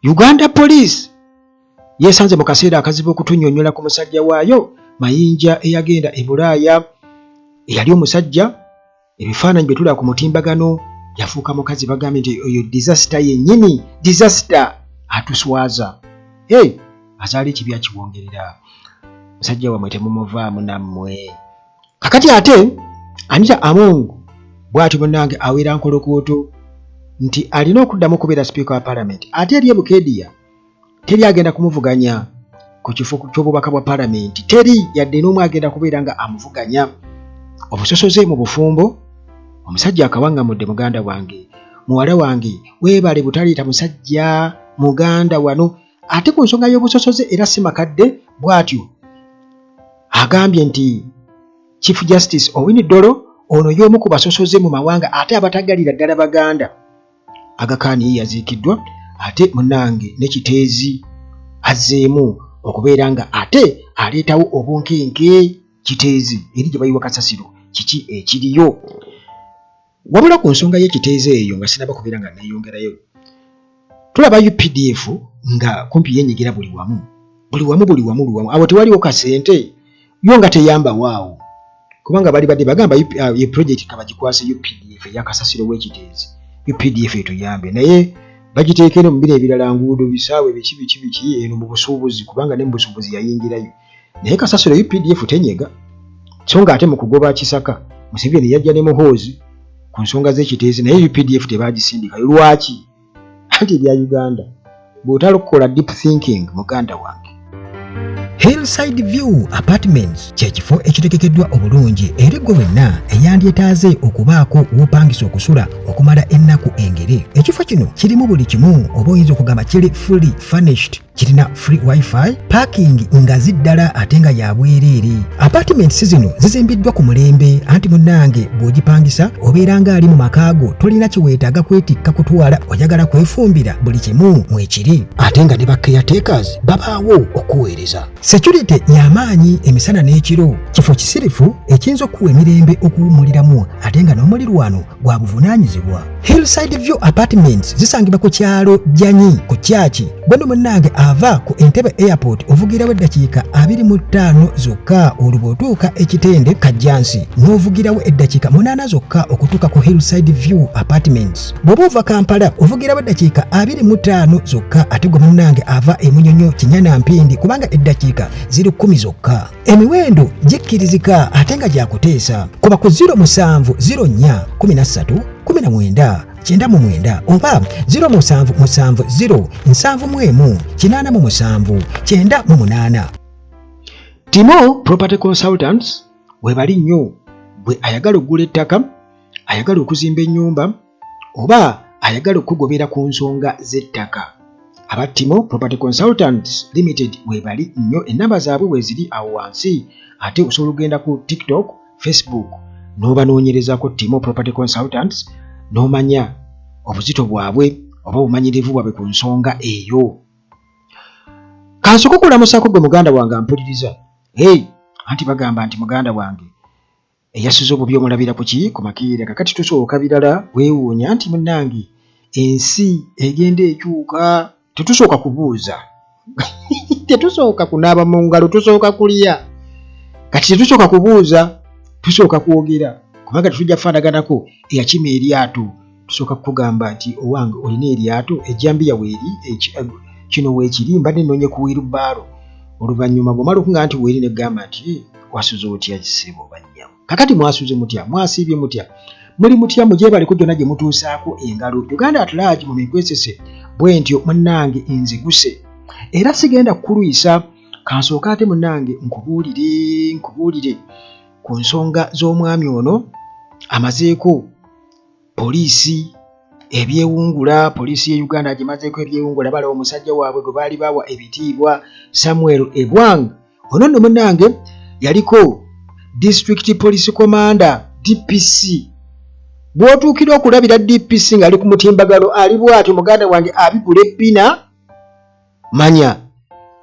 Uganda Police yeesanze mu kaseera akazibu okutunnyonnyola ku musajja waayo Mayinja eyagenda e Bulaaya eyali omusajja ebifaananyi bye tulaba ku mutimbagano yafuuka mukazi bagambye nti oyo disasita yennyini disasita atuswaza e azaala ekibi akiwongerera musajja wamwe temumuvaamu nammwe kakati ate anita among bwati munange awera nkolokoto nti alina okuddamu okubeera sipiika wa palamenti ate eri ebukediya teri agenda kumuvuganya ku kifo ky'obubaka bwa palamenti teri yadde n'omu agenda kubeera nga amuvuganya obusosoze mu bufumbo omusajja akawaŋŋamudde muganda wange muwala wange weebale butaleeta musajja muganda wano Ate ku nsonga y'obusosoze era si makadde bw'atyo agambye nti Chief Justice Owiny Dollo ono y'omu ku basosoze mu mawanga ate abatagalira ddala Baganda agakaani ye yaziikiddwa ate munange ne Kiteezi azzeemu okubeera nga ate aleetawo obunkenke Kiteezi eri gye bayiwa kasasiro kiki ekiriyo Wabula ku nsonga y'ekiteezo eyo nga sinaba kubeera nga neeyongerayo, tulaba updf nga kumpi yenyigira buli wamu buli wamu buli wamu buli wamu awo tewaliwo kasente yo nga teyambawo awo kubanga bali badde bagamba uh, ye project kabagikwase updf eyakasasiro w'ekiteezi updf etuyambe naye bagiteekere mu bino ebirala nguudo bisaawe biki biki biki eno mu busuubuzi kubanga ne mu busuubuzi yayingirayo naye kasasiro updf tenyega so nga ate mu kugoba kisaka museveni yajja ne muhoozi ku nsonga z'ekiteezi naye updf tebagisindikayo lwaki anti ebya uganda bw'otalokukola deep thinking muganda wange Hillside View Apartments kye kifo ekitegekeddwa obulungi eri gwe wenna eyandyetaaze okubaako w'opangisa okusula okumala ennaku engere. Ekifo kino kirimu buli kimu oba oyinza okugamba kiri fully furnished kirina free wifi parking ngazi ddala ate nga ya bwereere apartments zino zizimbiddwa ku mulembe anti munnange bw'ogipangisa obeera ng'ali mu maka go tolina kyeweetaaga kwetikka kutwala oyagala kwefumbira buli kimu mwekiri ate nga ne ba caretakers babaawo okuweereza security y'amaanyi emisana n'ekiro kifo kisirifu ekiyinza okukuwa emirembe okuwummuliramu ate nga n'omulirwano gwa buvunaanyizibwa Hillside View Apartments zisangibwa ku kyalo Janyi ku kyaki gweno munnange ava ku Entebbe Airport ovugirawo eddakiika abiri mu ttaano zokka olwo bw'otuuka ekitende Kajjansi n'ovugirawo eddakiika munaana zokka okutuuka ku Hillside View Apartments bw'oba ova Kampala ovugirawo eddakiika abiri mu ttaano zokka ate gwe munnange ava e Munyonyo Kinyana Mpindi kubanga eddakiika ziri kkumi zokka Emiwendo gikkirizika ate nga gyakuteesa kuba ku 07 04 13 19 kyenda mu mwenda oba 0 musanvu musanvu 0 nsanvu mu emu kinaana mu musanvu kyenda mu munaana timo property consultants webali nnyo bwe ayagala okugula ettaka ayagala okuzimba ennyumba oba ayagala okukugobera ku nsonga z'ettaka aba timo property consultants limited webali nnyo ennamba zaabwe weeziri awo wansi ate osobola okugenda ku tiktok facebook n'obanoonyerezako timo property consultants n'omanya obuzito bwabwe oba obumanyirivu bwabwe ku nsonga eyo kansoka okulamusako gwe muganda wange ampuliriza hey anti bagamba nti muganda wange Eyasuze obubi omulabira kuki? Ku makeera. Kakati tusooka birala kwewuunya nti munange ensi egenda ekyuka. Tetusooka kubuuza. Tetusooka kunaaba mu ngalo, tusooka kulya. Kati tetusooka kubuuza, tusooka kwogera kubanga tetujja kufaanaganako eyakima eryato. tusooka kukugamba nti owange olina eryato ejjambiya weeri eh, kino weekiri mbadde nnoonye ku wiirubaalo oluvannyuma bw'omala okunga nti weeri ne kugamba nti wasuze otya kisebo bannyamu kakati mwasuze mutya mwasiibye mutya muli mutya mugyebaleko gyonna gye mutuusaako engalo uganda atulaagi mu mikwesese bwe ntyo munnange nziguse era sigenda kukulwisa kansooka ate munnange nkubuulire nkubuulire ku nsonga z'omwami ono amazeeko poliisi ebyewungula poliisi ye uganda agimazeeko ebyewungula bala omusajja waabwe gwe baali bawa ebitiibwa samuel egwang ono nno munange yaliko district police commander dpc bw'otuukira okulabira dpc ng'ali ku mutimbagalo ali bw'atyo muganda wange abigula ebbina manya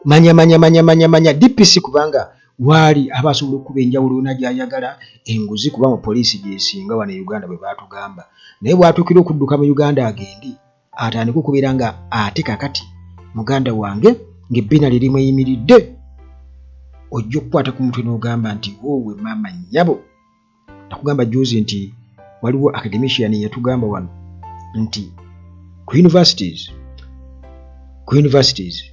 manya manya manya manya manya dpc kubanga waali aba asobola okukuba enjawulo yona gyayagala enguzi kuba mu poliisi gyesinga wano e uganda bwe batugamba naye bwatuukira okudduka mu uganda agendi atandika okubeera nga ate kakati muganda wange ng'ebbina lye limuyimiridde ojja okukwata ku mutwe n'ogamba nti woowe maama nnyabo nakugamba juzi nti waliwo academician yatugamba wano nti ku universities ku universities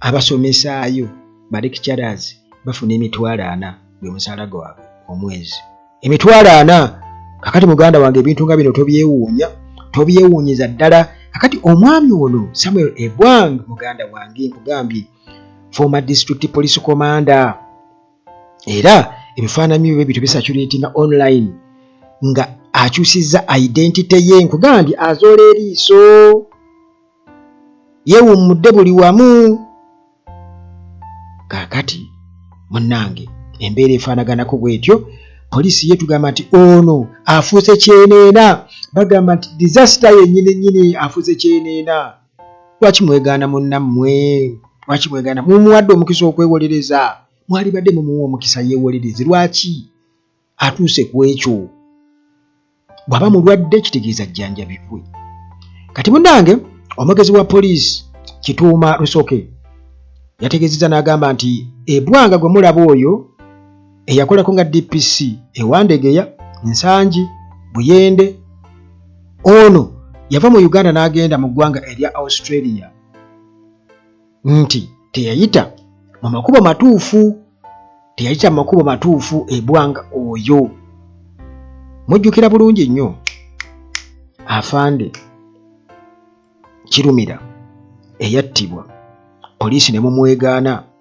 abasomesaayo ba lecturers bafuna emitwalo ana gwe musaala gwabwe omwezi emitwalo ana kakati muganda wange ebintu nga bino tobyewuunya tobyewuunyiza ddala kakati omwami ono samuel ebwang muganda wange nkugambye former district police commander era ebifaananyi bye bityo bisatuleetinga online nga akyusizza identite ye nkugamba nti azoola eriiso yewummudde buli wamu kaakati munnange embeera efaanaganako bwetyo poliisi ye tugamba nti ono afuuse kyeneena bagamba nti disasita yennyini nnyini afuuse kyeneena lwaki mwegaana munnammwe lwaki mwegaana mumuwadde omukisa okwewolereza mwalibadde mumuwa omukisa yeewolereze lwaki atuuse ku ekyo bw'aba mulwadde kitegeeza jjanjabibwe kati munnange omwogezi wa poliisi kituuma rusoke yategeezezza n'agamba nti ebwanga gwe mulaba oyo eyakolako nga DPC ewandegeya Nsangi Buyende ono yava mu Uganda n'agenda mu ggwanga erya Australia nti teyayita mu makubo matuufu teyayita mu makubo matuufu ebwanga oyo mujjukira bulungi nnyo afande kirumira eyattibwa poliisi ne mumwegaana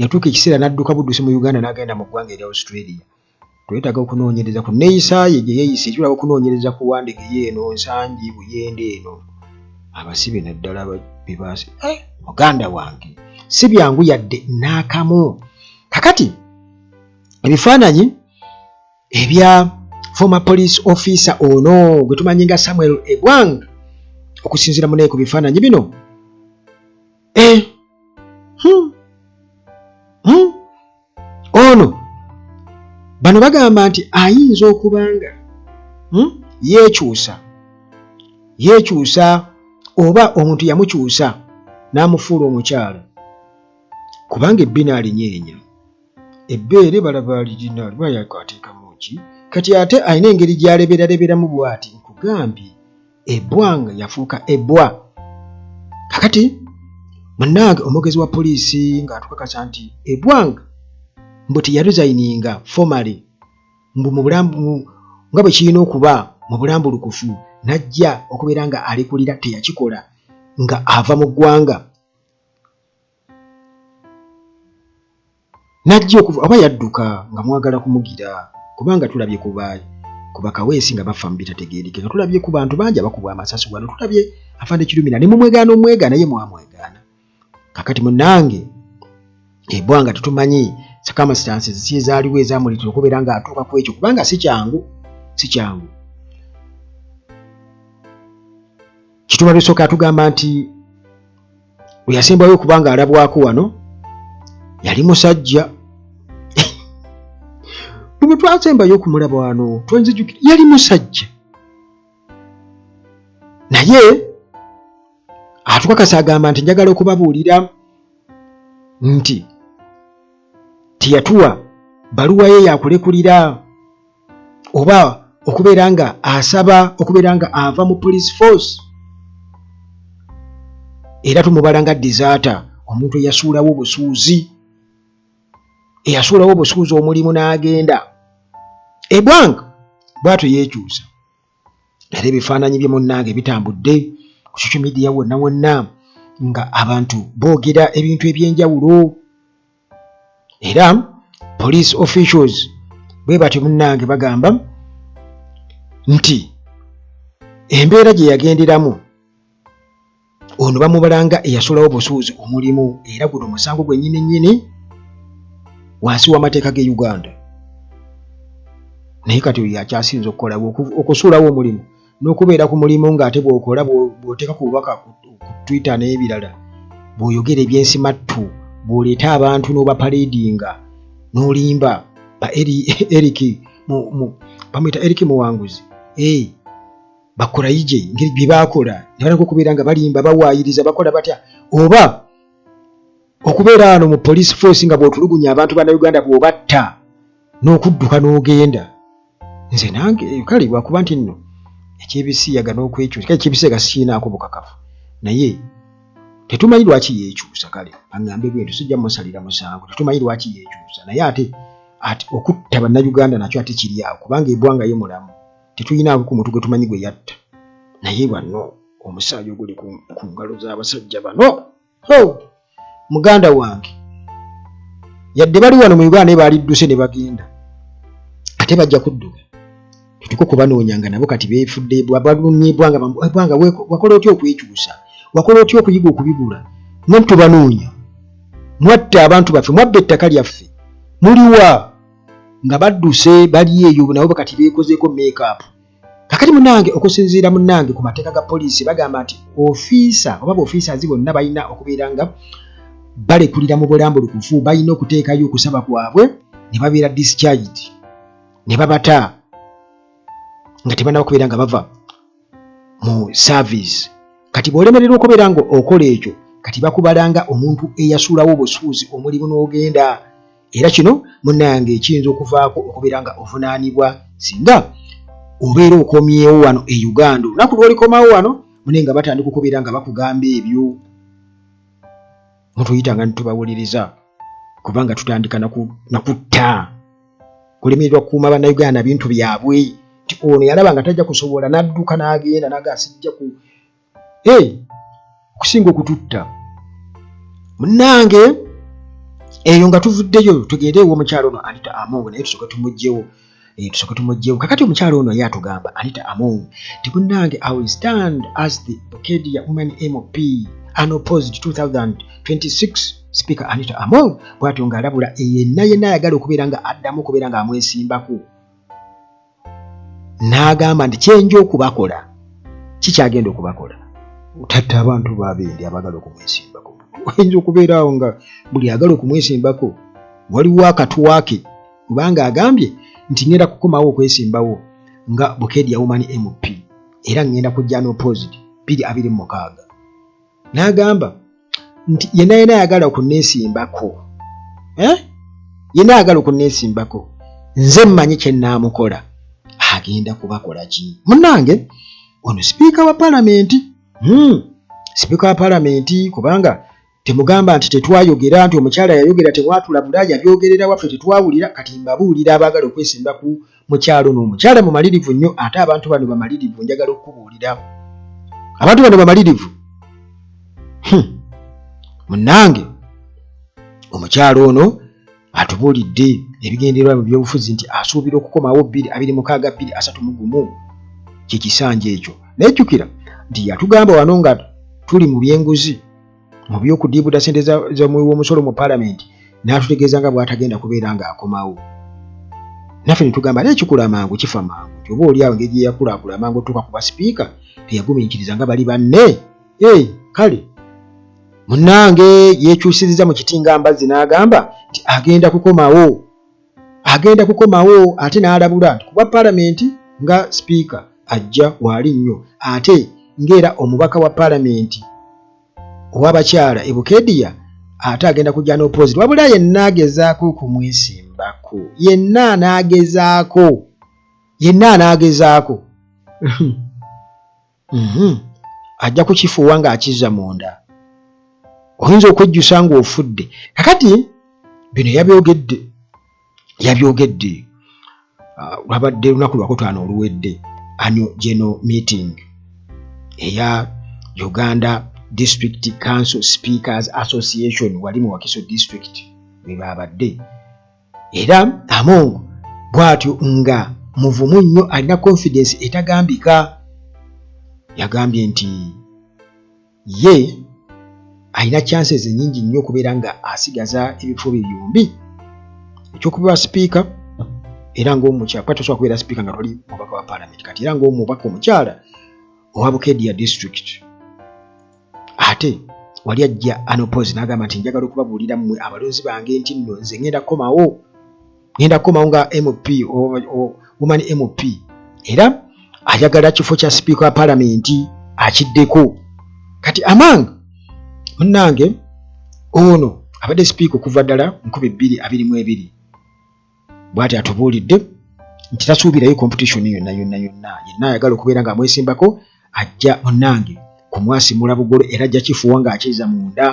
yatuuka ekiseera n'adduka buddusi mu Uganda n'agenda mu ggwanga erya Australia. Twetaaga okunoonyereza ku nneeyisa ye gye yeeyise ekirala okunoonyereza ku Wandege ye eno Nsangi Buyende eno abasibe naddala be baasi eh, muganda wange si byangu yadde n'akamu. Kakati ebifaananyi ebya former police officer ono gwe tumanyi nga Samuel Ebwang okusinziira munaye ku bifaananyi bino eh, hmm, hmm. ono bano bagamba nti ayinza okuba nga hmm, yeekyusa yeekyusa oba omuntu yamukyusa n'amufuula omukyalo kubanga ebbina alinyeenya ebbeere balaba lirina liba yakwateekamu ki kati ate alina engeri gy'aleberaleberamu bw'ati nkugambye ebwanga yafuuka ebwa kakati munange omwogezi wa poliisi ng'atukakasa nti ebwanga mbu teyaresigninga formaly mbu mubulambu nga bwe kirina okuba mu bulambulukufu najja okubeera nga alekulira teyakikola nga ava mu ggwanga Najja okuva oba yadduka nga mwagala kumugira kubanga tulabye ku ba ku bakaweesi nga bafa mu bitategeerekeka, tulabye ku bantu bangi abakubwa amasasi wano, tulabye afande Kirumira ne mumwegaana omwegaana ye mwamwegaana. Kakati munange ebwanga tetumanyi circumstances si ezaaliwo ezamuleetera okubeera ng'atuuka ku ekyo kubanga si kyangu si kyangu. Kituba bisooka atugamba nti we yasembayo okuba nga alabwako wano yali musajja bwe twasembayo okumulaba wano twanzijukira yali musajja naye atukakasa agamba nti njagala okubabuulira nti teyatuwa baluwa ye yakulekulira oba okubeera nga asaba okubeera nga ava mu police force era tumubala nga disaata omuntu eyasuulawo obusuuzi eyasuulawo obusuuzi omulimu n'agenda ebwanga bwatyo yeekyusa era ebifaananyi bye munnange bitambudde ku social media wonna wonna nga abantu boogera ebintu eby'enjawulo era police officials bwe batyo munnange bagamba nti embeera gye yagenderamu ono bamubala nga eyasulawo obusuuzi omulimu era guno omusango gwennyini nnyini wansi w'amateeka ge uganda naye kati oyo yakyasinza okukolawo okusuulawo omulimu n'okubeera ku mulimu ng'ate bw'okola bw'oteeka ku bubaka ku Twitter n'ebirala bw'oyogera ebyensimattu bw'oleeta abantu n'obapaleedinga n'olimba ba Eric bamuyita Eric Muwanguzi eh, bakurayije ngeri bye baakola ne baleka okubeera nga balimba bawaayiriza bakola batya oba okubeera wano mu police force nga bw'otulugunya abantu bannayuganda bw'obatta n'okudduka n'ogenda nze nange kale lwakuba nti nno ekyebisiyaga n'okwekyusa kale ekyebisiyaga sikiinaako bukakafu naye tetumanyi lwaki yeekyusa kale aŋŋambe bwento sijja musalira musango tetumanyi lwaki yeekyusa naye ate ati okutta bannayuganda nakyo ate kiri awo kubanga ebwanga ye mulamu tetulinaako ku muntu gwe tumanyi gwe yatta naye banno omusaayi oguli ku ngalo z'abasajja bano ho muganda wange yadde bali wano mu uganda naye baalidduse ne bagenda ate bajja kudduka tutuke okubanoonya nga nabo kati beefudde balumyebwanga bwanga wakola otya okwekyusa wakola otya okuyiga okubigula no tubanoonya mwatta abantu baffe mwabba ettaka lyaffe muliwa nga badduse bali eyo nabo kati beekozeeko makeup kakati munange okusinziira munange ku mateeka ga poliisi bagamba nti ofiisa oba baofiisazi bonna balina okubeera nga balekulira mu bulambulukufu balina okuteekayo okusaba kwabwe ne babeera discharged ne babata nga tebanaba okubeera nga bava mu service kati bw'olemererwa okubeera nga okola ekyo kati bakubalanga omuntu eyasuulawo obusuuzi omulimu n'ogenda Era kino munnange kiyinza okuvaako okubeera nga ovunaanibwa singa obeera okomyewo wano e Uganda. Olunaku lw'olikomawo wano mune nga batandika okubeera nga bakugamba ebyo mutuyitanga ne tubawuliriza kubanga tutandika na kutta kulemererwa kukuuma bannayuganda na bintu byabwe nti ono yalaba nga tajja kusobola n'adduka n'agenda naga sijja ku hey, okusinga okututta munange eyo nga tuvuddeyo tugende ewo omukyalo ono anita amongo naye tusoke tumugyewo eh, tusoke tumugyewo kakati omukyalo ono ye atugamba anita amongo ti munange i will stand as the okedia women mop an opposed 2026 speaker anita among bwatyo ng'alabula yenna yenna ayagala okubeera nga addamu okubeera ng'amwesimbako n'agamba nti kyenja okubakola kikyagenda okubakola otadde abantu babendi abagala okumwesimbako oyinza okubeera awo nga buli agala okumwesimbako waliwo akatwake kubanga agambye nti ngenda kukomawo okwesimbawo nga bukedya woman mp era ngenda kujja n'opposite biri abiri mu mukaaga n'agamba nti yena yena ayagala okunesimbako eh? yena ayagala okunesimbako nze mmanyi kyenaamukola agenda kubakola ki munange ono sipiika wa palamenti hmm. sipiika wa palamenti kubanga temugamba nti tetwayogera nti omukyala yayogera temwatula bula yabyogerera waffe tetwawulira kati mbabuulira abaagala okwesimba ku Mukyalo ono omukyala mumalirivu nnyo ate abantu bano bamalirivu njagala okukubuulira abantu bano bamalirivu hmm. munnange omukyalo ono atubuulidde ebigendererwa mu byobufuzi nti asuubira okukomawo bbiri abiri mukaaga bbiri asatu mu gumu kyekisanja ekyo naye jjukira nti yatugamba wano nga tuli mu byenguzi mu by'okudiibuda ssente z'omuwi w'omusolo mu paalamenti n'atutegeeza nga bw'atagenda kubeera ng'akomawo naffe ne tugamba naye kikula mangu kifa mangu nti oba oli awo engeri gye yakulakula amangu otuuka ku basipiika teyagumiikiriza nga bali banne e kale munnange yeekyusiriza mu kiti nga mbazzi n'agamba nti agenda kukomawo agenda kukomawo ate n'alabula nti kuba palamenti nga sipiika ajja waali nnyo ate ng'era omubaka wa palamenti ow'abakyala e bukediya ate agenda kujja n'opoziti wabula yenna agezaako okumwesimbako yenna anaagezaako yenna anaagezaako Mhm. Ajja kukifuuwa ng'akizza munda. Oyinza okwejjusa ng'ofudde. Kakati bino yabyogedde yabyogedde ah, lwabadde lunaku lwakutaano oluwedde anyo geno meeting eya Uganda District Council Speakers Association wali mu Wakiso District bwe baabadde era among bwatyo nga muvumu nnyo alina confidence etagambika yagambye nti ye alina chances enyingi nnyo okubeera nga asigaza ebifo bye byombi ekyokubewa sipiika era ngaomukyala kuba tosobola kubeera sipiika nga toli mubaka wa palamenti kati era ngaomubaka omukyala owa bukedia district ate wali ajja anopose n'agamba nti njagala okubabuulira mmwe abalonzi bange nti nno nze ngenda kukomawo ngenda kukomawo nga mp woman mp era ayagala kifo kya sipiika wa palamenti akiddeko kati amang munnange ono abadde sipiika okuva ddala nkumi bbiri abiri mu ebiri bwati atubuulidde nti tasuubirayo competition yonna yonna yonna yenna ayagala okubeera nga amwesimbako ajja munange kumwasimula bugolo era ajja kifuwa ng'akiza munda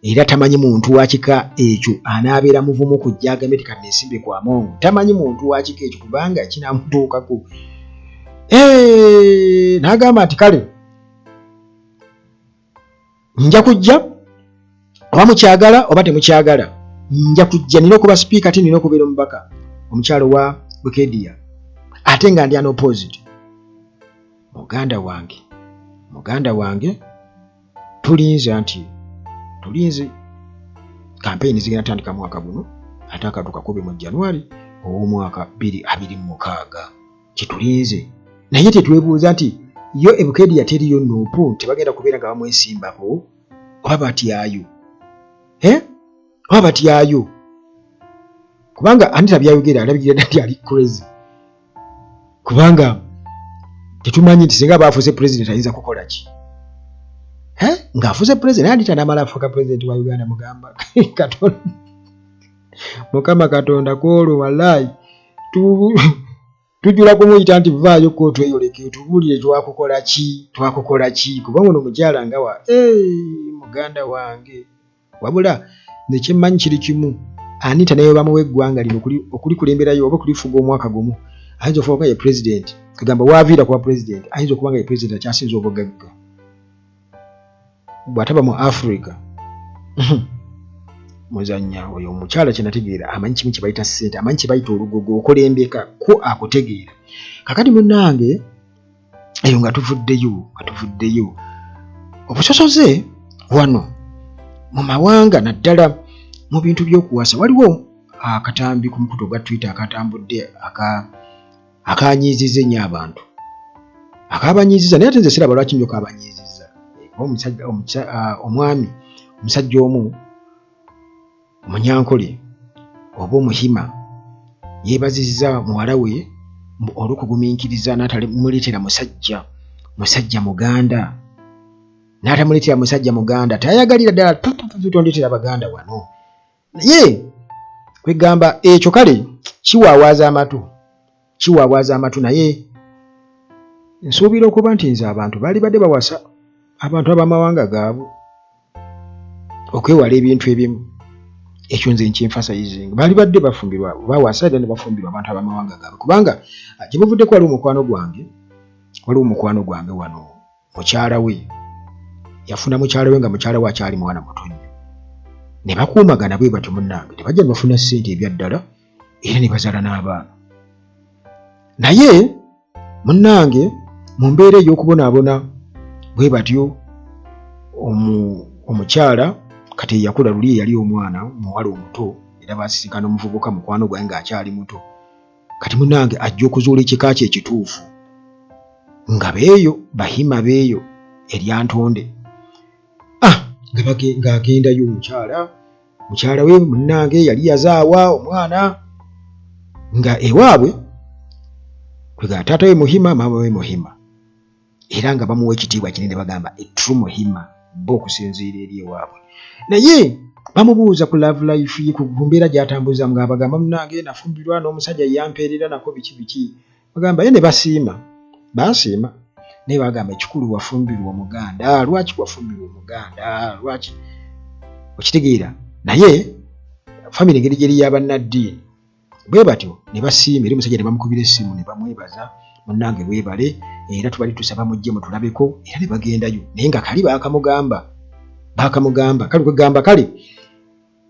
era tamanyi muntu wakika ekyo anaabeera muvumu kujja agambe ti kati nesimbe ku amongo tamanyi muntu wakika ekyo kubanga kinamutuukako n'agamba nti kale nja kujja oba mukyagala oba temukyagala nja kujja nina okuba sipiika ate nina okubeera omubaka omukyalo wa bukedia ate nga ndi anopposed muganda wange muganda wange tulinze anti tulinze kampeyini zigenda tandika mwaka guno ate akatuka kubi mu january ow'omwaka 226 kyetulinze naye tetwebuuza nti yo ebukeedi yateriyo nuupu tebagenda kubeera nga bamwesimbako oba batyayo eh? oba batyayo kubanga anita byayogera alabikira dati ali crazy kubanga tetumanyi nti singa baafuuse pulezidenti ayinza kukola ki eh? ng'afuuse pulezidenti anita namala afuuka pulezidenti wa uganda mugamba katonda mukama katonda kwolwo walaayi tujula kumuyita nti vaayo ko tweyoleke tubuulire twakukola ki twakukola ki kuba ono mukyala nga wa muganda wange wabula nekyemmanyi kiri kimu ani tanayo bamuwa eggwanga lino okulikulemberayo oba okulifuga omwaka gumu ayinza okuba nga ye pulezidenti kagamba waaviira kuba pulezidenti ayinza okuba nga ye pulezidenti akyasinza obugagga bwataba mu africa muzanya oyo omukyala kyenategeera amanyi kimu kyebayita sente amanyi kyebayita olugogo okulembeka ku akutegeera kakati munange eyo nga tuvuddeyo nga tuvuddeyo obusosoze wano mu mawanga naddala mu bintu by'okuwasa waliwo akatambi ku mukutu ogwa twitter akatambudde aka akanyiizizza ennyo abantu akabanyiizizza naye ate nze siraba lwaki nyo kabanyiizizza omusajja omwami omusajja omu omunyankole oba omuhima yeebazizza muwala we olw'okugumiikiriza n'atamuleetera musajja musajja muganda n'atamuleetera musajja muganda tayagalira ddala tondetera baganda wano naye kwegamba ekyo kale kiwaawaaza amatu kiwaawaaza amatu naye nsuubira okuba nti nze abantu baali badde bawasa abantu ab'amawanga gaabwe okwewala ebintu ebimu ekyo nze nkinfasayizing baali badde bafumbirwa bawasa era ne bafumbirwa abantu ab'amawanga gaabwe kubanga ah, gye buvuddeko waliwo mukwano gwange waliwo mukwano gwange wano mukyala we yafuna mukyala we nga mukyala we akyali mwana muto nnyo ne bakuumagana bwe batyo munnange tebajja ne bafuna ssente ebya ddala era ne bazaala n'abaana naye munnange mu mbeera ey'okubonaabona bwe batyo omukyala kati eyakula luli eyali omwana muwala omuto era baasisikana omuvubuka mukwano gwange ng'akyali muto kati munange ajja okuzuula ekika kye ekituufu nga beeyo bahima beeyo eryantonde ah, ng'agendayo omukyala mukyala we munange yali yazaawa omwana nga ewaabwe kwega taata we muhima maama we muhima era nga bamuwa ekitiibwa kinene bagamba etru muhima bo okusinziira eri ewaabwe naye bamubuuza ku love life ye ku mbeera gyatambuza nga abagamba munange nafumbirwa n'omusajja yampeerera nako biki biki bagamba ye ne basiima basiima naye bagamba ekikulu wafumbirwa omuganda lwaki wafumbirwa omuganda lwaki okitegeera naye famiry engeri gyeri yabanaddiini bwe batyo ne basiima era omusajja ne bamukubira essimu ne bamwebaza munnange weebale era tubali tusaba mujje mutulabeko era ne bagendayo naye nga kali baakamugamba baakamugamba kale kwegamba kale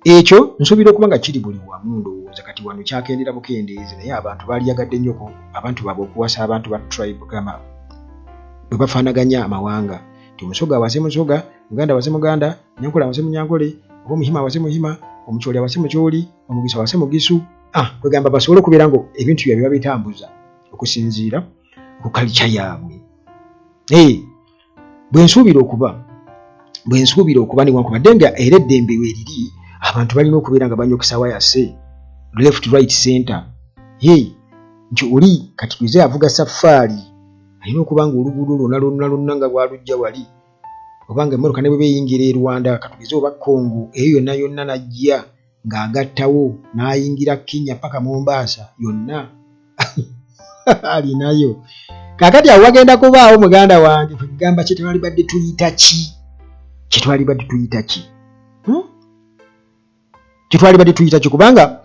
ekyo nsuubira okuba nga kiri buli wamu ndowooza kati wano kyakendera bukendeezi naye abantu baaliyagadde nnyoko abantu baabwe okuwasa abantu ba tribe gama bwe bafaanaganya amawanga ti musoga awase musoga muganda awase muganda nyankole awase munyankole oba omuhima awase muhima omukyoli awase mukyoli omugisa wase mugisu ah kwegamba basobola okubeera nga ebintu byabye babitambuza okusinziira ku kalica yaabwe ee bwe nsuubira okuba bwe nsuubira okuba newankubadde nga era eddembe weriri abantu balina okubeera nga banyokisawa yase left right center ee nti oli kati tuze avuga safaari alina okuba nga oluguudo lwona lwonna lwonna nga bwalujja wali obanga emmotoka ne bwe beyingira e rwanda katugeze oba congo eyo yonna yonna najja ng'agattawo n'ayingira kenya paka mombaasa yonna alinayo kakati awo wagenda kubaawo muganda wange kwegamba kyetwalibadde tuyita ki kyetwalibadde tuyita ki hmm? kyetwalibadde tuyita ki kubanga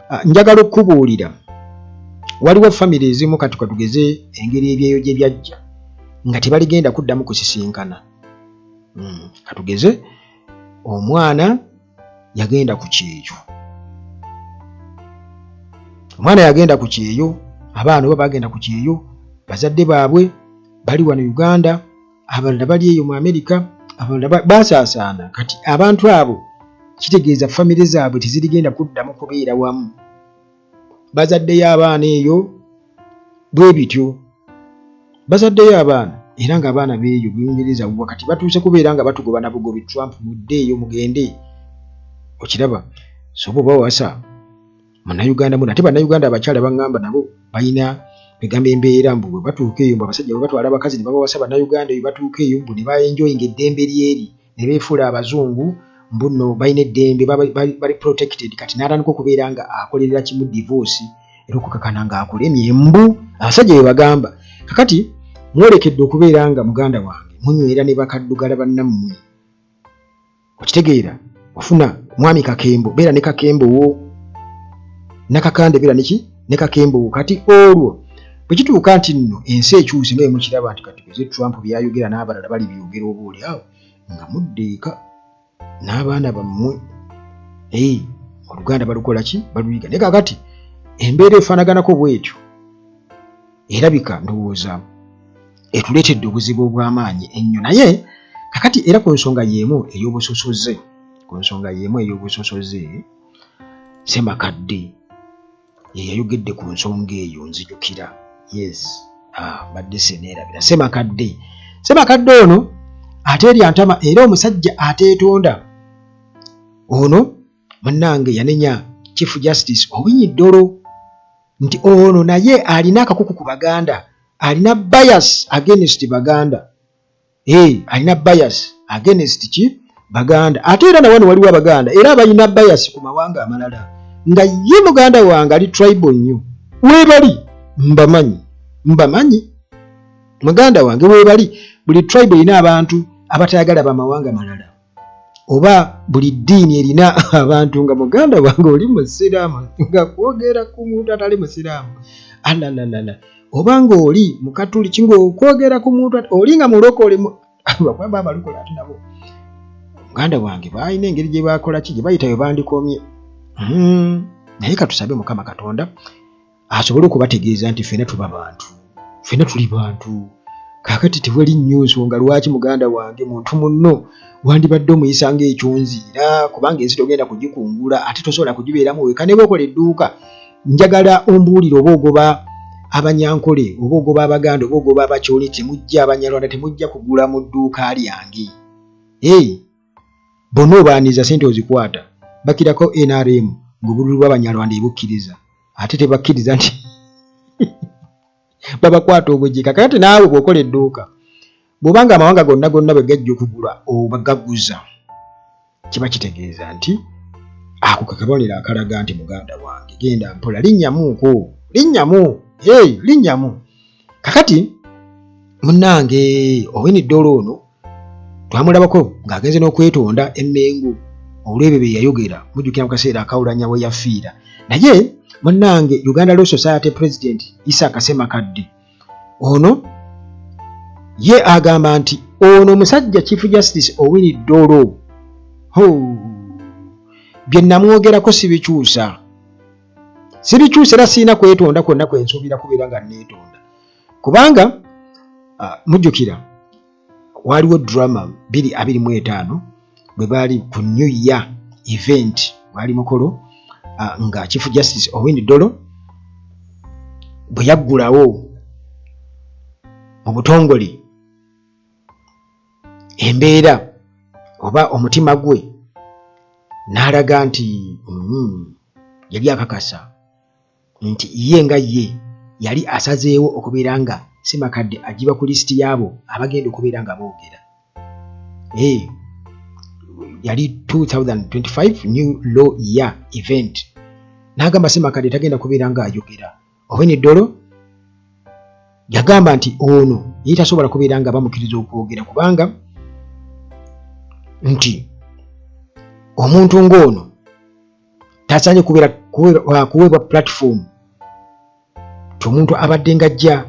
ah, njagala okukubuulira waliwo famiry ezimu kati katugeze engeri ebyeyo gye byajja nga tebaligenda kuddamu kusisinkana hmm, katugeze omwana yagenda ku kyeyo omwana yagenda ku kyeyo abaana oba bagenda ku kyeyo bazadde baabwe bali wano uganda abalala bali eyo mu amerika abalala basaasaana kati abantu abo kitegeeza famire zaabwe tezirigenda kuddamu kubeera wamu bazaddeyo abaana eyo bwe bityo bazaddeyo abaana era ng'abaana beeyo buyungereza wuwa kati batuuse kubeera nga batugoba na bugobi trump mudde eyo mugende okiraba soba oba wasa munayuganda muna ate banayuganda abakyala baŋŋamba nabo balina egamba embeera mbu bwe batuuka eyo mbu abasajja bwe batwala abakazi ne babawasa banayuganda eyo batuuka eyo mbu ne baenjoyinga eddembe lyeri ne beefuula abazungu mbu nno balina eddembe bali protected kati n'atandika okubeera nga akolerera kimu divorce era okukakana ng'akulemye mbu abasajja be bagamba kakati mwolekedde okubeera nga muganda wange munywera ne bakaddugala bannammwe okitegeera ofuna mwami kakembo beera ne kakembo wo nakakande beera neki ne kakembugu kati olwo bwe kituuka nti nno ensi ekyuse nga emukiraba nti kati kuze trump byayogera n'abalala bali byogera oba oli awo nga mudde eka n'abaana bammwe ei oluganda balukola ki baluyiga naye kakati embeera efaanaganako bwetyo erabika ndowooza etuleetedde obuzibu obw'amaanyi ennyo naye kakati era ku nsonga y'emu ey'obusosoze ku nsonga y'emu ey'obusosoze Ssemakadde ye yayogedde ku nsonga eyo nzijukira yes ah, mbadde seneerabira Ssemakadde Ssemakadde ono ateerya ntama era omusajja ateetonda ono munnange yanenya chief justice owinyi ddolo nti ono naye alina akakuku ku baganda alina bias against baganda hey, alina bias against ki baganda ate era nawano waliwo abaganda era abalina bias ku mawanga amalala nga ye muganda wange ali tribal nnyo webali mbamanyi mbamanyi muganda wange webali buli tribal erina abantu abatayagala bamawanga malala oba buli ddiini erina abantu nga muganda wange oli musiraamu nga kwogera ku muntu atali musiraamu alalala oba ng'oli mukatuliki ngaokwogera ku muntu oli nga mulokole bakwamba abalokole ati nabo muganda wange baalina engeri gye bakola ki gye bayita bwe bandikomye hmm, naye katusabe mukama katonda asobole okubategeeza nti ffena tuba bantu ffena tuli bantu kakati tewali nnyo nsonga lwaki muganda wange muntu munno wandibadde omuyisa nga ekyonziira kubanga ensi togenda kugikungula ate tosobola kugibeeramu weka neba okola edduuka njagala ombuulire oba ogoba abanyankole oba ogoba abaganda oba ogoba abakyole temujja abanyarwanda temujja kugula mu dduuka lyange hey. Bonna obaaniza sente ozikwata bakirako nrm ng'obululu bw'abanyarwanda ebukkiriza ate tebakkiriza nti babakwata obujika kakati naawe bw'okola edduuka bw'oba nga amawanga gonna gonna bwe gajja okugula oba gaguza kiba kitegeeza nti ako ke kabonero akalaga nti muganda wange genda mpola linnyamuuko linnyamu hey, linnyamu kakati munnange ow'eniddolo ono twamulabako ng'agenze n'okwetonda emmengo olw'ebyo bye yayogera mujjukira mu kaseera akawulanya we yafiira naye munnange uganda law society president isa kasema kadde ono ye agamba nti ono omusajja chief justice owini dolo ho bye namwogerako sibikyusa sibikyusa era sirina kwetonda kwonna kwe nsuubira kubeera nga neetonda kubanga uh, mujjukira waaliwo drama biri abiri mu etaano bwe baali ku new year event waali mukolo uh, nga chief justice owindi dolo bwe yaggulawo mu butongole embeera oba omutima gwe n'alaga nti mm, yali akakasa nti ye nga ye yali asazeewo okubeera nga Ssemakadde agiba ku lisiti y'abo abagenda okubeera nga boogera. Hey, yali 2025 new law year event n'agamba Ssemakadde tagenda kubeera nga ayogera owen eddolo yagamba nti ono yali tasobola kubeera nga bamukkiriza okwogera kubanga nti omuntu ng'ono tasaanye kubeera uh, kuweebwa platform ti omuntu abadde nga ajja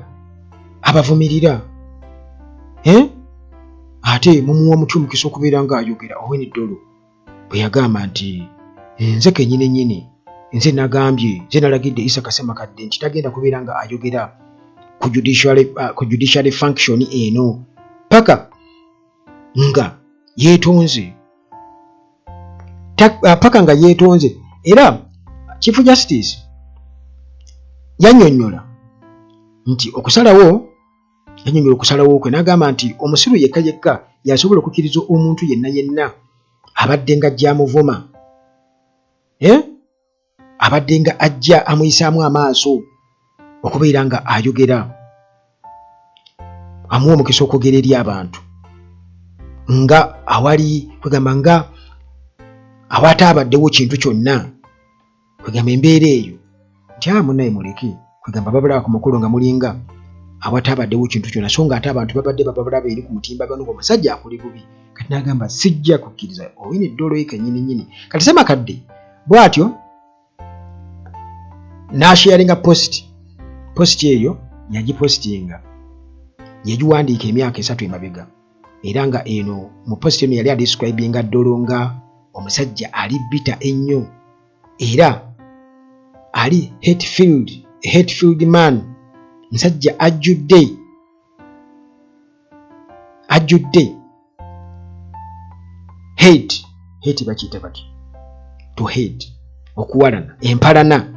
abavumirira eh? ate mumuwa mutya omukisa okubeera nga ayogera oweni dolo bwe yagamba nti nze kenyini nyini nze nagambye nze nalagidde isa kasema kadde nti tagenda kubeera nga ayogera ku judiciary uh, function eno paka nga yetonze uh, paka nga yetonze era chief justice yanyonyola nti okusalawo yanyonyola okusalawo kwe nagamba nti omusiru yekka yekka yasobola okukiriza omuntu yenna yenna abadde nga jamuvuma eh? abadde nga ajja amuyisaamu amaaso okubeera nga ayogera amuwa omukisa okwogera eri abantu nga awali kwegamba nga awaataabaddewo kintu kyonna kwegamba embeera eyo nti amunaye muleke kwegamba babulaba ku mukolo nga mulinga awatabadewo kintu kyona so nga ate abantu babadde bababulaba eri ku mutimba gano omusajja akuli bubi kati nagamba sijja kukkiriza oyina eddolo ye kenyini nyini kati semakadde bwatyo nasharinga post post eyo yagipostinga yagiwandiika emyaka esatu emabega era nga eno mu post eno yali adescribinga ddolo nga omusajja ali bita ennyo era ali hetfield hetfield man musajja ajjudde ajjudde hed hed bakiyita bati to hed okuwalana empalana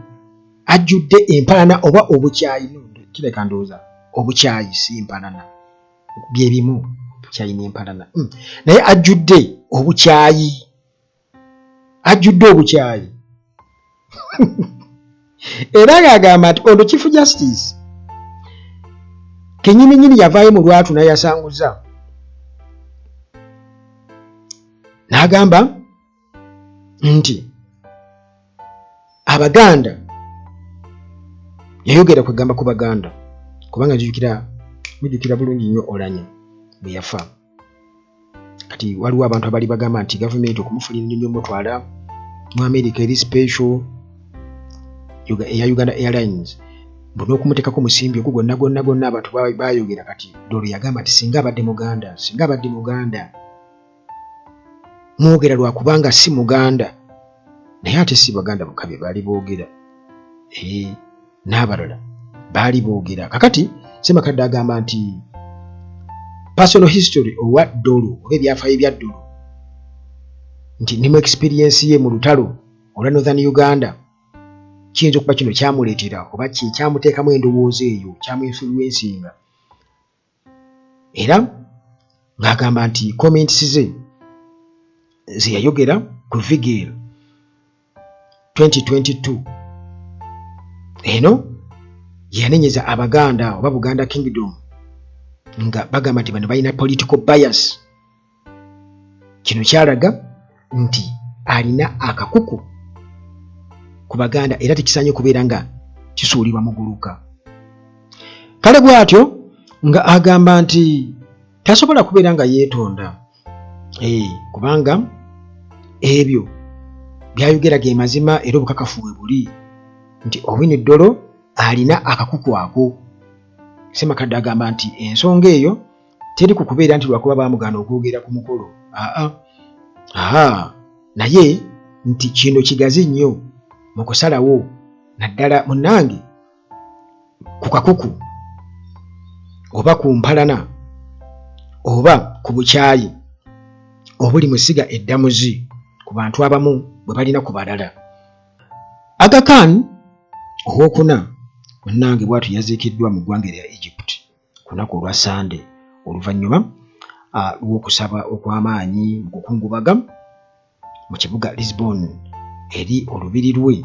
ajjudde empalana oba obukyayi kireka ndowooza obukyayi si empalana byebimu kyalina empalana hmm. naye ajjudde obukyayi ajjudde obukyayi era ng'agamba nti ono chief justice kenyininyini yavaayo mu lwatu nayasanguza n'agamba nti abaganda yayogera kwegamba ku baganda kubanga jukira mujukira bulungi nnyo olanya bwe yafa kati waliwo abantu abali bagamba nti gavumenti okumufunira enyonyi omutwala mu america eri special eya uganda airlines nokumutekaku musimbi ogu gwonna gwonna gwonna abantu bayogera kati dolo yagamba nti singa abadde muganda singa abadde muganda mwogera lwakubanga si muganda naye ate si baganda bukabe bali boogera ee eh. n'abalala baali boogera kakati semakadde agamba nti personal history owa ddolo oba ebyafaayo ebya ddolo nti ndi mu experiensi ye mu lutalo olwa northern uganda kiyinza okuba kino kyamuleetera oba kyekyamuteekamu endowooza eyo kyamuinfluensinga era ng'agamba nti comments ze zeyayogera ku vigil 2022 eno yanenyeza abaganda oba buganda kingdom nga bagamba nti bano balina political bias kino kyalaga nti alina akakuku ku baganda era tekisaanye kubeera nga kisuulibwa muguluka kale bw'atyo nga agamba nti tasobola kubeera nga yeetonda eh, kubanga ebyo byayogera ge mazima era obukakafu we buli nti owine ddolo alina akakuku ako semakadde agamba nti ensonga eyo teri ku kubeera nti lwakuba baamugaana okwogera ku mukolo aa aha naye nti kino kigazi nnyo mu kusalawo naddala munnange ku kakuku oba ku mpalana oba ku bukyayi obuli mu ssiga eddamuzi ku bantu abamu bwe balina ku balala agakan owokuna munnange bwatu yaziikiddwa mu ggwanga erya egypt ku lunaku olwa Ssande oluvannyuma ah, lw'okusaba okw'amaanyi mu kukungubaga mu kibuga Lisbon eri olubiri lwe.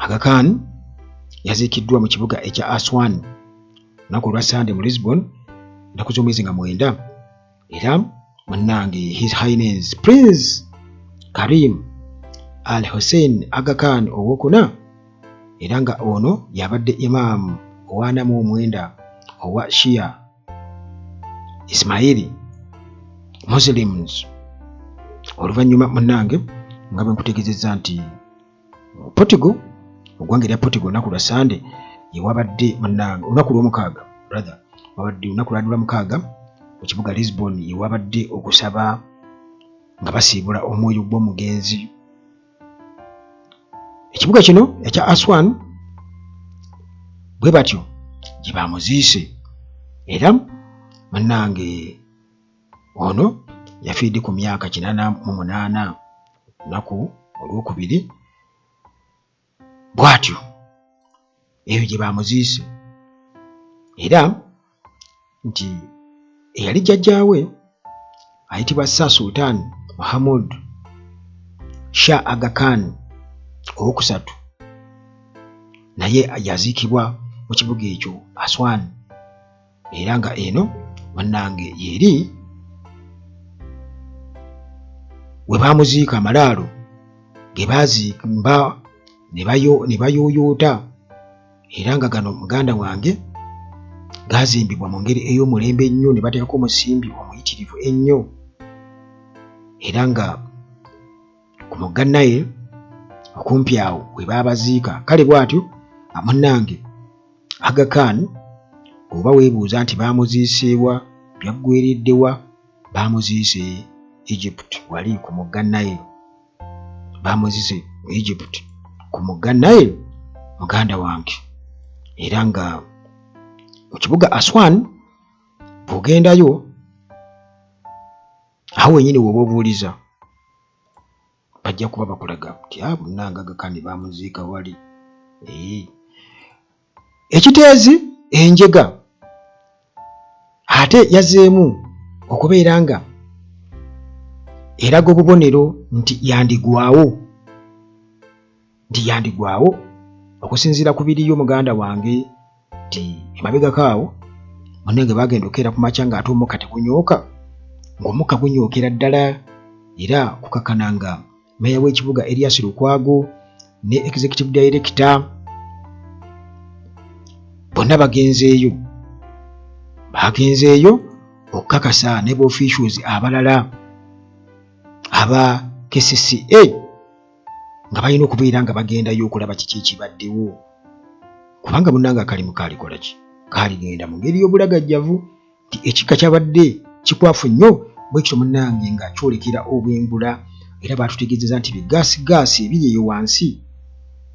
Aga Khan yaziikiddwa mu kibuga ekya Aswan lunaku olwa Ssande mu Lisbon ennaku z'omwezi nga mwenda. era munnange his highness prince karim al hussein agakan owokuna era nga ono yabadde imam owanamu omwenda owa shia ismaili muslims oluvannyuma munnange nga bwenkutegezezza nti Portugal ogwanga erya Portugal olunaku lwa Sande yewabadde munange olunaku lwomukaaga brother wabadde olunaku lwalula mukaaga mu kibuga Lisbon yewabadde okusaba nga basiibula omwoyo gw'omugenzi ekibuga kino ekya Aswan bwe batyo gye bamuziise era munange Ono yafiirdde ku myaka kinana mu munaana lunaku olwokubiri bwatyo eyo gye bamuziise era nti eyali jjajjaawe ayitibwa Sir Sultan Muhammad Shah Aga Khan owokusatu naye yaziikibwa mu kibuga ekyo Aswan. era nga eno bannange yeri we baamuziika amalaalo ge baazimba ne bayooyoota era nga gano muganda wange gaazimbibwa mu ngeri ey'omulembe ennyo ne bateekako omusimbi omuyitirivu ennyo era nga ku mugga naye okumpi awo we baabaziika kale bw'atyo amunange Aga Khan oba weebuuza nti baamuziiseewa byaggweereddewa baamuziise Egypt wali ku mugga Nile baamuziise mu Egypt ku mugga Nile muganda wange era nga mu kibuga Aswan bw'ogendayo awo wenyini woba obuuliza bajja kuba bakulaga nti abo ah, nangaga kandi bamuziika wali ee ekiteezi enjega ate yazeemu okubeera nga eraga obubonero nti yandigwawo nti yandigwawo okusinziira ku biriyo muganda wange nti emabegako awo munange bagenda okeera ku makya ng'ate omukka tegunyooka ng'omukka gunyookera ddala era kukakana nga meeya w'ekibuga erias lukwago ne executive director bonna bagenzeeyo bagenzeeyo okukakasa ne boficues abalala aba kcca nga balina okubeera nga bagendayo okulaba kiki ekibaddewo kubanga munanga akalimu kaalikola ki kaaligenda mu ngeri y'obulagajjavu nti ekikka kyabadde kikwafu nnyo bwe kityo munange nga kyolekera obwengula era baatutegeezeza nti bigaasigaasi ebiri eyo wansi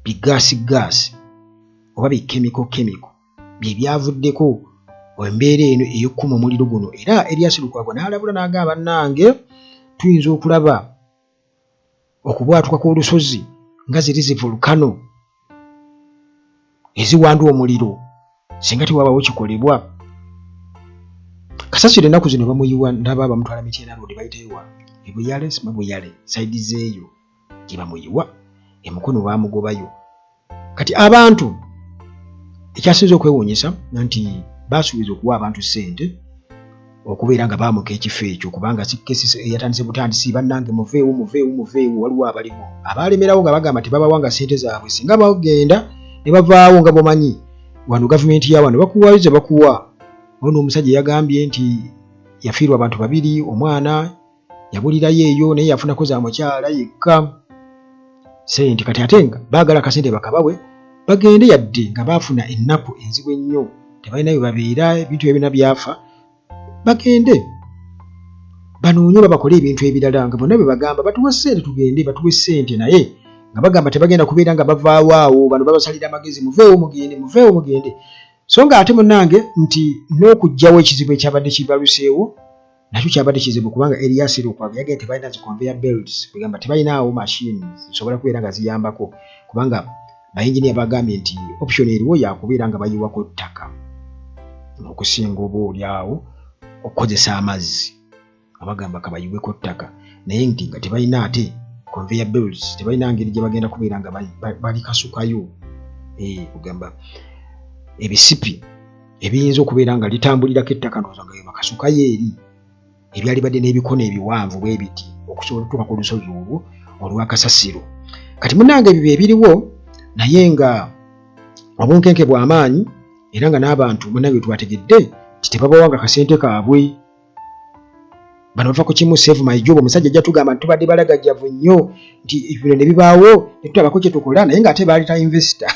bigaasigaasi oba bikemiko kemiko bye byavuddeko embeera eno ey'okukuma omuliro guno era eryasilukwago n'alabula n'agamba nange tuyinza okulaba okubwatuka kw'olusozi nga ziri zi volcano eziwanda omuliro singa tewabawo kikolebwa kasasiro ennaku zino bamuyiwa ndaba bamutwala mityena road bayitewa ebuyale sima buyale saidi zeeyo gye bamuyiwa emukono bamugobayo kati abantu ekyasinza okwewunyisa nti basuubiza okuwa abantu ssente okubeera nga baamuka ekifo ekyo kubanga sikesi eyatandise butandisi bannange muveewo muveewo muveewo waliwo abaliwo abaalemerawo nga bagamba tebabawa nga ssente zaabwe singa bagenda ne bavaawo nga bwamanyi wano gavumenti ya wano bakuwayo ze bakuwa ono omusajja yagambye nti yafiirwa abantu babiri omwana yabulirayo eyo naye yafunako za mukyala yekka sente kati ate nga baagala akasente bakabawe bagende yadde nga baafuna ennaku enzibu ennyo tebalina bye babeera ebintu byabina byafa bagende banoonye oba bakole ebintu ebirala nga bonna bye bagamba batuwa ssente tugende batuwa essente naye nga bagamba tebagenda kubeera nga bavaawo awo bano babasalira amagezi muveewo mugende muveewo mugende so nga ate munange nti n'okugjawo ekizibu ekyabadde kibaluseewo nakyo kyabadde kizibu kubanga Elias Lukwago yagenda tebalina zi conveyor belts kwegamba tebalinaawo machine zisobola kubeera nga ziyambako kubanga bayinginiya bagambye nti option eriwo yakubeera nga bayiwako ttaka okusinga oba olyawo okukozesa amazzi abagamba kabayiweko ttaka naye nti nga tebalina ate conveyor belts tebalina ngeri gye bagenda kubeera nga balikasukayo eh, kugamba ebisipi ebiyinza okubeera nga litambulirako ettaka ndowooza nga bebakasukayo eri ebyalibadde n'ebikono ebiwanvu bwe biti okusobola okutuuka ku lusozi olwo olwakasasiro kati munange ebyo byebiriwo naye nga obunkenke bw'amaanyi era nga n'abantu munange bye twategedde nti tebabawanga kasente kaabwe bano bava ku kimu save my job omusajja ajja tugamba nti tubadde balagajjavu nnyo nti bino ne bibaawo ne tutabako kye tukola naye ng'ate baali ta investor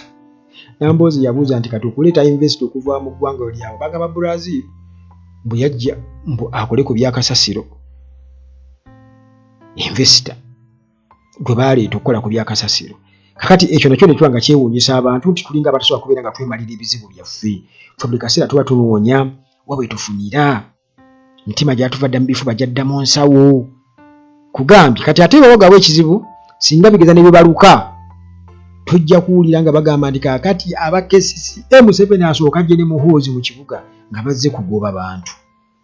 namboozi yabuuza nti kati okuleeta investor okuva mu ggwanga olyawo bagamba brazil mbu yajja mbu akole ku byakasasiro investor gwe baaleeta okukola ku byakasasiro kakati ekyo nakyo ne tuba nga kyewuunyisa abantu nti tulinga abatasobola kubeera nga twemalira ebizibu byaffe ffe buli kaseera tuba tunoonya wa bwe tufunira mitima gyatuva dda mu bifuba gyadda mu nsawo kugambye kati ate baba gabwe ekizibu singa bigeza ne bibaluka tujja kuwulira nga bagamba nti kakati aba kcca museveni asooka gye ne muhoozi mu kibuga nga bazze kugoba bantu